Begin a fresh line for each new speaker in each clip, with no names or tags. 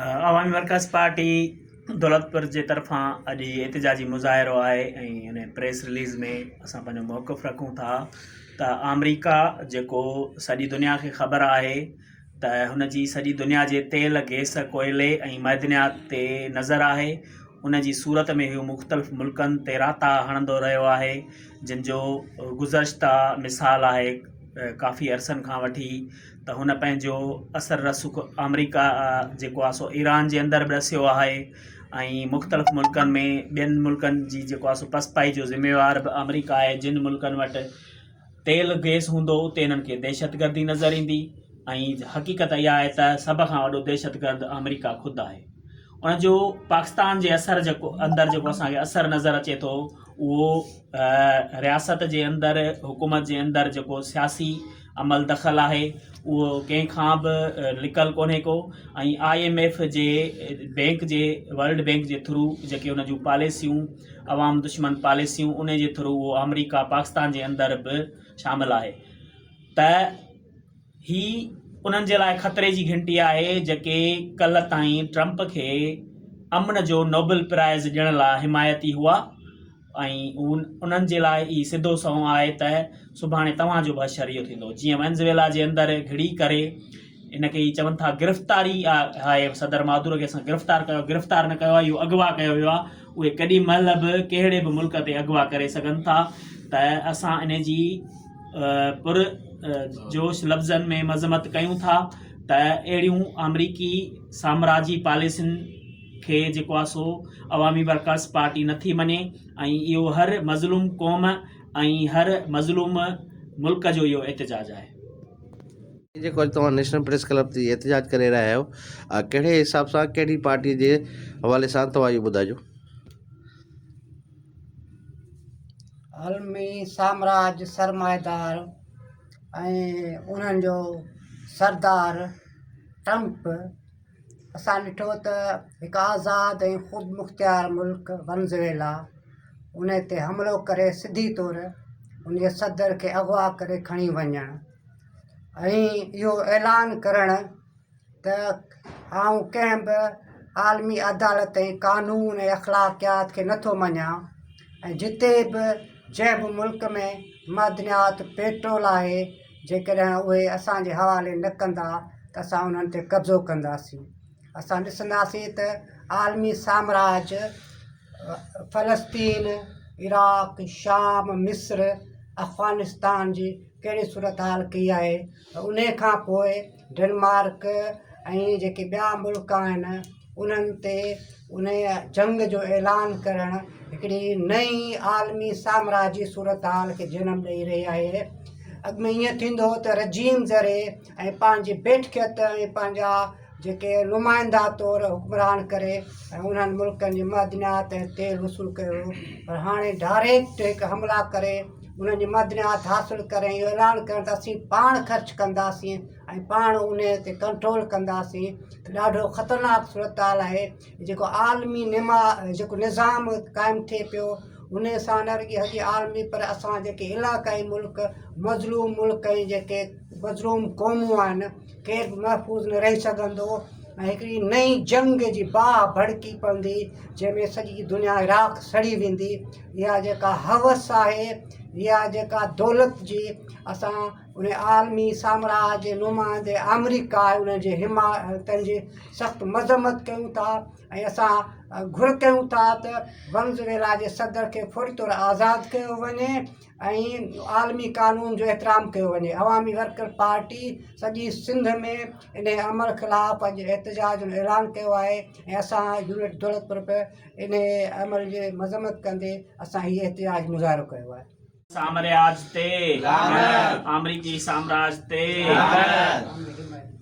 عوامي workers party Daulatpur جي طرفان اڄ هي احتجاجي مظاهرو آهي ۽ ان پريس رليز ۾ اسان پنهنجو موقف رکون ٿا ته آمريڪا جيڪو سڄي دنيا کي خبر آهي ته هن جي سڄي دنيا جي تيل گيس ڪوئلي ۽ معدنيات تي نظر آهي ان جي صورت ۾ هو مختلف ملڪن تي راتا هڻندو رهيو آهي جن جو گذشته مثال آهي ڪافي عرصن کان وٺي ته هن پنهنجو اثر رسوخ آمريڪا جيڪو آهي سو ايران جي اندر به ڏسيو آهي ۽ مختلف ملڪن ۾ ٻين ملڪن جي جيڪو آهي سو پسپائي جو ذميوار به آمريڪا آهي جن ملڪن وٽ تيل گيس هوندو اتي هنن کي دهشت گردي نظر ايندي ۽ حقيقت اها آهي ته سڀ کان وڏو دهشت گرد آمريڪا خود آهي ان جو پاڪستان جي اثر جيڪو اندر جيڪو اسان کي اثر نظر اچي ٿو اهو رياست جي اندر حڪومت جي اندر جيڪو سياسي عمل دخل آهي اهو ڪنهن کان به لڪل ڪونهي ڪو ۽ آء ايم ايف جي بينڪ جي ورلڊ بينڪ جي ٿرو جيڪي ان جون پاليسيون عوام دشمن پاليسيون ان جي ٿرو اهو آمريڪا پاڪستان جي اندر به شامل آهي ته هي انهن جي لاء خطري جي گهنٽي آهي جيڪي ڪلهه تائين ٽرمپ کي امن جو نوبل پرائز ڏيڻ لاء حمايتي هئا ۽ انهن جي لاء ئي سڌو سنئون آهي ته سڀاڻي توهان جو به حشر اهو ٿيندو جيئن وينزويلا جي اندر گهڙي ڪري ان کي چون ٿا گرفتاري آهي صدر مادورو کي اسان گرفتار ڪيو گرفتار نه ڪيو آهي اهو اغوا ڪيو ويو آهي اهي ڪڏهن مهل به ڪهڙي به ملڪ تي اغوا ڪري سگهن ٿا ته اسان ان جي پر جوش لفظن ۾ مذمت ڪيون ٿا ته اهڙيون آمريڪي سامراجي پاليسين کي جيڪو آ سو عوامي ورڪرز پارٽي نٿي مڃي ۽ اهو هر مظلوم قوم ۽ هر مظلوم ملڪ جو اهو احتجاج آهي. هي جيڪو اڄ توهان نيشنل
پريس ڪلب تي احتجاج ڪري رهيا آهيو آ ڪهڙي حساب سان ڪهڙي پارٽي جي حوالي سان توهان اهو ٻڌاجو.
عالمي سامراج سرمائيدار ۽ انهن جو سردار ٽرمپ اسان ڏٺو ته هڪ آزاد ۽ خودمختيار ملڪ ونزويلا ان تي حملو ڪري سڌي طور ان جي صدر کي اغوا ڪري کڻي وڃڻ ۽ اهو اعلان ڪرڻ ته آئون ڪنهن به عالمي عدالت ۽ قانون ۽ اخلاقيات کي نٿو مڃيا ۽ جتي به جنهं به ملڪ ۾ معدنيات پيٽرول آهي جيڪڏهن اهي اسان جي حوالي نه ڪندا ته اسان انهن تي قبضو ڪنداسين. اسان ڏسنداسين ته عالمي سامراج فلسطين، عراق، شام، مصر، افغانستان جي ڪهڙي صورتحال ڪئي آهي ۽ انهي کان پوء ڊنمارڪ ۽ جيڪي ٻيا ملڪ آهن انهن تي ان جنگ جو اعلان ڪرڻ هڪڙي نئي عالمي سامراج جي صورتحال کي جنم ڏئي رهي آهي اڳ ۾ ائين ٿيندو هو ته رجيم ذري ۽ پنهنجي بيٺڪيت ۽ پنهنجا جيڪي نمائندا طور حڪمران ڪري ۽ انهن ملڪن جي معدنيات ۽ تيل وصول ڪيو هو پر هاڻي ڊائريڪٽ هڪ حملا ڪري انهن جي معدنيات حاصل ڪرڻ ۽ اهو اعلان ڪرڻ ته اسين پاڻ خرچ ڪنداسين ۽ پاڻ ان تي ڪنٽرول ڪنداسين ته ڏاڍو خطرناڪ صورتحال آهي جيڪو عالمي نما جيڪو نظام قائم ٿئي پيو ان سان نه رڳي هڪ عالمي پر اسان جيڪي علاقائي ملڪ مظلوم ملڪ ۽ جيڪي مظلوم قومون آهن ڪير به محفوظ نه رهي سگهندو ۽ هڪڙي نئين جنگ جي باهه ڀڙڪي پوندي جنهن ۾ سڄي دنيا راک سڙي ويندي اها جيڪا هوس آهي اها جيڪا دولت جي اسان ان عالمي سامراج جي نمائندي آمريڪا آهي ان جي حمايتن جي سخت مذمت ڪيون ٿا ۽ اسان گهر ڪيون ٿا ته ونزويلا جي صدر کي فوري طور آزاد ڪيو وڃي ۽ عالمي قانون جو احترام ڪيو وڃي عوامي ورڪر پارٽي سڄي سنڌ ۾ انهي عمل خلاف اڄ احتجاج جو اعلان ڪيو آهي ۽ اسان يونٽ دولتپور به انهي عمل جي مذمت ڪندي اسان هي احتجاج مظاهرو ڪيو آهي. سامرياج تي لعنت
آمريڪي سامراج تي لعنت.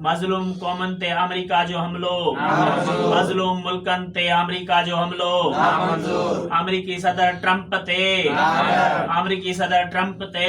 مظلوم قومن تي آمريڪا جو حملو مظلوم ملڪن تي آمريڪا جو حملو آمريڪي صدر ٽرمپ تي آمريڪي صدر ٽرمپ تي